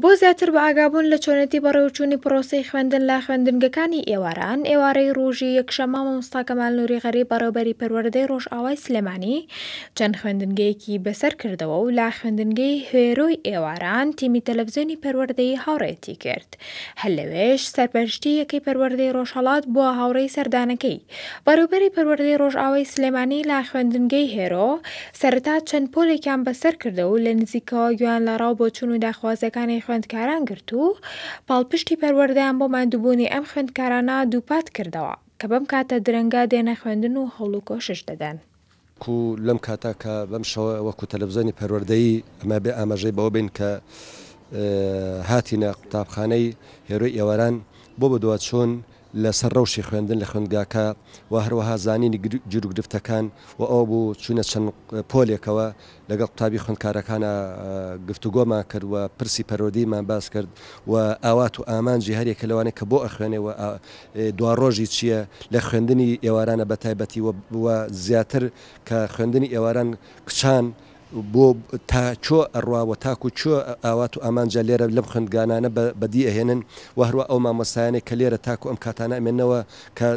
بۆ زیاتر بەئاگابوون لە چۆنێتی بەڕێوەچوونی پڕۆسەی خوێندن لە خوێندنگەکانی ئێواران، ئێوارەی ڕوژی یەکشەممە مامۆستا کەمال نوری غەریب بەڕێوبەری پەروەردەی ڕۆژئاوای سلێمانی چەند خوێندنگەیەکی بەسەر کردەوە و لە خوێندنگەی هوێرۆی ئێواران تیمی تەلەفزیۆنی پەروەردەی هاوڕێیەتی کرد. هەر لەوێش سەرپەرشتی یەکەی پەروەردەی ڕۆژهەڵات بووە هاوڕێی سەردانەکەی. بەڕێوبەری پەروەردەی ڕۆژئاوای سلێمانی لە خوێندنگەی هێرۆ سەرەتا چەند پۆلێکیان بەسەر کردە و لە نزیکەوە گوێیان لە ڕاو بۆچوون و داخوازییەکانی خوێندکاران گرت و پاڵپشتی پەروەردەیان بۆ ماندووبوونی ئەم خوێندکارانە دووپات کردەوە کە بەم کاتە درەنگە دێنە خوێندن و هەوڵ و کۆشش دەدەن. کو لەم کاتە کە بەم شەوە وەکو تەلەفزیۆنی پەروەردەیی ئەمە بێ ئاماژەی بەوە بین کە هاتینە قوتابخانەی هێرۆی ئێواران بۆ بەدواچوون لە سەر رەوشی خوێندن لە خوێندگاکە و هەروەها زانینی گیروگرفتەکان و ئەوە بوو چووینە چەند پۆلێکەوە لەگەڵ قوتابی خوێندکارەکانا گفتوگۆمان کرد و پرسی پەروەردەیمان باس کرد و ئاوات و ئامانجی هەر یەکە لەوانەی کە بۆ ئەخوێنێ و دواڕۆژی چییە لە خوێندنی ئێوارانە بە تایبەتی و زیاتر کە خوێندنی ئێواران کچان بۆ تا چۆ ئەڕوا و تاکو چۆ ئاوات و ئامانجە لێرە لەم خوێندگانانە بەدی ئەهێنن و هەروە ئەو مامۆستایانەی کە لێرە تاکو ئەم کاتانە ئەمێنەوە کە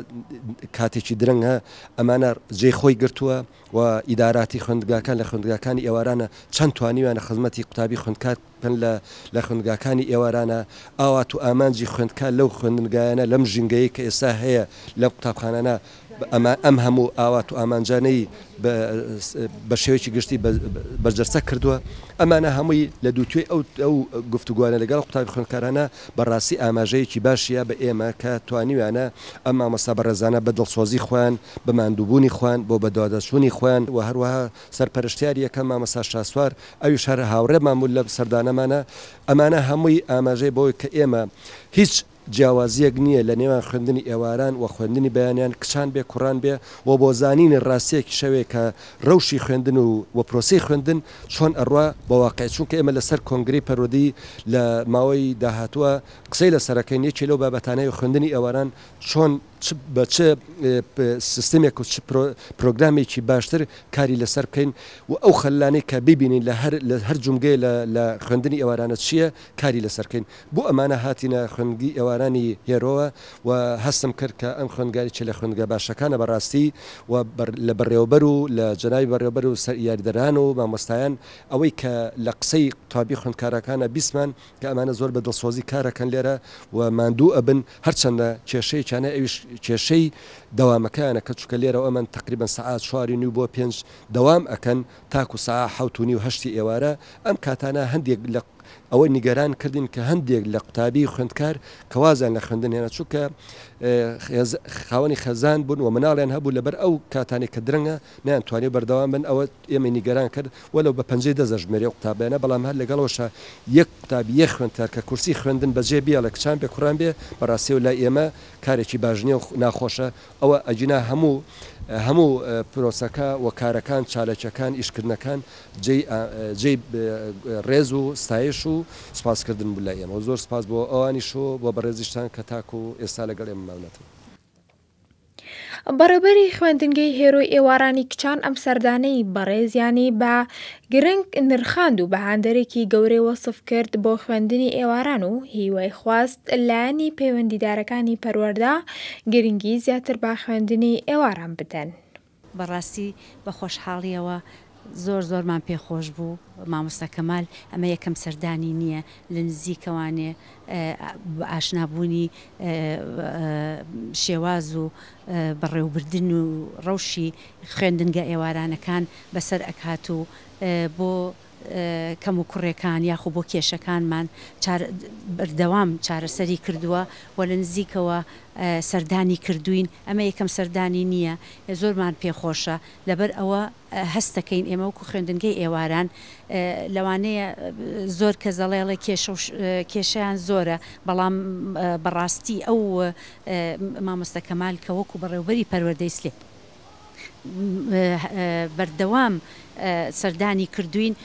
کاتێکی درەنگە ئەمانە جێی خۆی گرتووە. و ئیداراتی خوێندگاکان لە خوێندگاکانی ئێوارانە چەند توانیویانە خزمەتی قوتابی خوێندکار بکەن لە لە خوێندگاکانی ئێوارانە؟ ئاوات و ئامانجی خوێندکار لەو خوێندنگایانە لەم ژینگەیەی کە ئێستا هەیە لەم قوتابخانانە ئەما ئەم هەموو ئاوات و ئامانجانەی بە بە شێوەیەکی گشتی بە بەرجەستە کردووە؟ ئەمانە هەمووی لە دووتوێی ئەو ئەو گفتوگۆانە لەگەڵ قوتابی خوێندکارانە بەڕاستی ئاماژەیەکی باشیە بە ئێمە کە توانیویانە ئەم مامۆستا بەڕێزانە بە دڵسۆزی خۆیان، بە ماندووبوونی خۆیان، بۆ بەدواداچوونی خۆیان و هەروەها سەرپەرشتیاری یەکەم مامۆستا شاسوار ئەویش هەر هاوڕێمان بوو لە سەردانەمانا، ئەمانە هەمووی ئاماژەیە بەوەی کە ئێمە هیچ جیاوازیەک نیە لە نێوان خوێندنی ئێواران و خوێندنی بەیانیان کچان بێ کوڕان بێ و بۆ زانینی ڕاستیەکیشەوەی کە ڕەوشی خوێندن و پرۆسەی خوێندن چۆن ئەڕوا بە واقیع، چونکە ئێمە لەسەر کۆنگرەی پەروەردەی لە ماوەی داهاتووە قسەی لەسەر ئەکەین، یەکێ لەو بابەتانەی خوێندنی ئێواران چۆن چ بە چ سیستمێک و چ پرۆگرامێکی باشتر کاری لەسەر بکەین و ئەو خەللانەی کە ببینین لە هەر هەر جومگەیە لە لە خوێندنی ئێوارانە چییە کاری لەسەر کەین. بۆ ئەمانە هاتینە خوێندگی ئێوارانی هێرۆوە و هەستم کرد کە ئەم خوێندگا یەکێ لە خوێندگا باشەکانە بە ڕاستی و لە بەڕێوەبەر و لە جەنابی بەڕێوەبەر و سەر یاریدەران و مامۆستایان ئەوەی کە لە قسەی قوتابی خوێندکارەکانا بیستمان کە ئەمانە زۆر بە دڵسۆزی کار ئەکەن لێرە و ماندوو ئەبن هەرچەندە کێشەیەکیانە ئەویش کێشەی دەوامەکەیانە کە چونکە لێرەوە ئەمن تەقریبەن سەعات چوار و نیو بۆ پێنج دەوام ئەکەن تاکو ساع حەوت و نیو هەشتی ئێوارە، ئەم کاتانە هەندێک لە ئەوە نیگەران کردین کە هەندێک لە قوتابی خوێندکار کە وازیان لە خوێندن هێنا چونکە خاوەنی خێزان بوون و مناڵیان هەبوو لەبەر ئەو کاتانی کە درەنگە نەیان توانی بەردەوام بن ئەوە ئێمەی نیگەران کرد وەلەو بە پەنجەی دەست دەژمێری ئەو قوتابیانە بەڵام هەر لەگەڵەوەشا یەک قوتابی یەک خوێندکار کە کورسی خوێندن بەجێ بێڵێ کچان بێ کوڕان بێ بەڕاستیەوە لای ئێمە کارێکی باش نیە و ناخۆشە ئەوە ئەگینا هەموو هەموو پرۆسەکە و کارەکان چالەکیەکان ئیشکردنەکان جێی جێی ڕێز و ستایش و سپاس کردن بوو لای ئێمە زۆر سپاس بۆ ئەوانیش و بۆ بەڕێزیشتان کە تاکو و ئێستا لەگەڵ ئێمە ماونەتەوە. بەڕێوبەری خوێندنگەی هێرۆی ئێوارانی کچان ئەم سەردانەی بەڕێزیانی بە گرنگ نرخاند و بە هاندەرێکی گەورەی وەسف کرد بۆ خوێندنی ئێواران و هیوای خواست لایەنی پەیوەندیدارەکانی پەروەردە گرنگی زیاتر بە خوێندنی ئێواران بدەن. بەڕاستی بە خۆشحاڵیەوە زۆر زۆرمان پێ خۆش بوو مامۆستا کەمال ئەمە یەکەم سەردانی نیە لە نزیکەوانێ ئاشنا بوونی شێواز و بەڕێوبردن و ڕەوشی خوێندنگە ئێوارانەکان بەسەر ئەکات و بۆ کەم و کوڕێکان یاخو بۆ کێشەکانمان چار بەردەوام چارەسەری کردووە و لە نزیکەوە سەردانی کردووین ئەمە یەکەم سەردانی نییە زۆرمان پێ خۆشە لەبەر ئەوە هەست دەکەین ئێمە وەکو خوێندنگەی ئێواران لەوانەیە زۆر کەس دەڵێ ئەڵێ کێشە و کێشەیان زۆرە بەڵام بەڕاستی ئەو مامۆستا کەمال کە وەکو بەڕێوبەری پەروەردەی سلێ بەردەوام سەردانی کردووین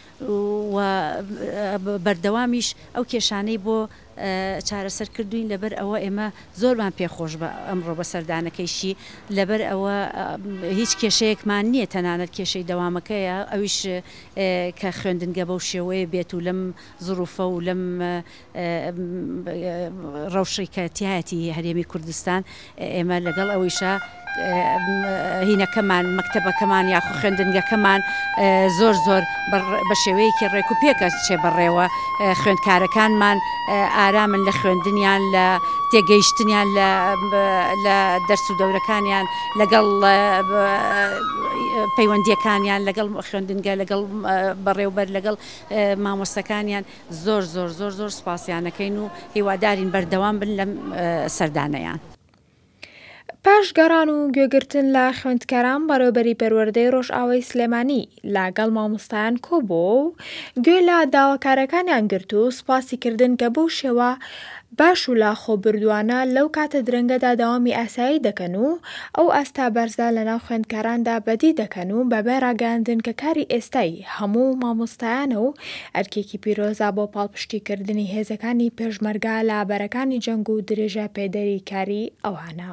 و بەردەوامیش ئەو کێشانەی بۆ چارەسەر کردووین، لەبەر ئەوە ئێمە زۆرمان پێ خۆش بە ئەمڕۆ بە سەردانەکەیشی، لەبەر ئەوە هیچ کێشەیەکمان نییە تەنانەت کێشەی دەوامەکەیە ئەویش کە خوێندنگە بەو شێوەیە بێت و لەم زروفە و لەم ڕەوشی کە تیایەتی هەرێمی کوردستان ئێمە لەگەڵ ئەوەیشا هینەکەمان مەکتەبەکەمان یاخو خوێندنگەکەمان زۆر زۆر بە شێوەیەکی ڕێک و پێکە چێ بەڕێوە خوێندکارەکانمان ئارامن لە خوێندنیان لە تێگەیشتنیان لە دەرس و دەورەکانیان لەگەڵ پەیوەندیەکانیان لەگەڵ خوێندنگە لەگەڵ بەڕێوبەر لەگەڵ مامۆستەکانیان زۆر زۆر زۆر زۆر سوپاسیان ئەکەین و هیوادارین بەردەوام بن لەم سەردانەیان. پاش گەڕان و گوێگرتن لە خوێندکاران بەڕێوبەری پەروەردەی ڕۆژئاوای سلێمانی لە گەڵ مامۆستایان کۆبۆوە و گوێ لە داواکارەکانیان گرت و سوپاسی کردن کە بەو شێوە باش و لاخۆ بردوانە لەو کاتە درەنگەدا دەوامی ئاسایی دەکەن و ئەو ئاستا بەرزە لەناو خوێندکاراندا بەدی دەکەن و بەبێ ڕاگەیاندن کە کاری ئێستای هەموو مامۆستایانە و ئەرکێکی پیرۆزە بۆ پاڵپشتی کردنی هێزەکانی پێشمەرگە لە بەرەکانی جەنگ و درێژە پێدەری کاری ئەوانە.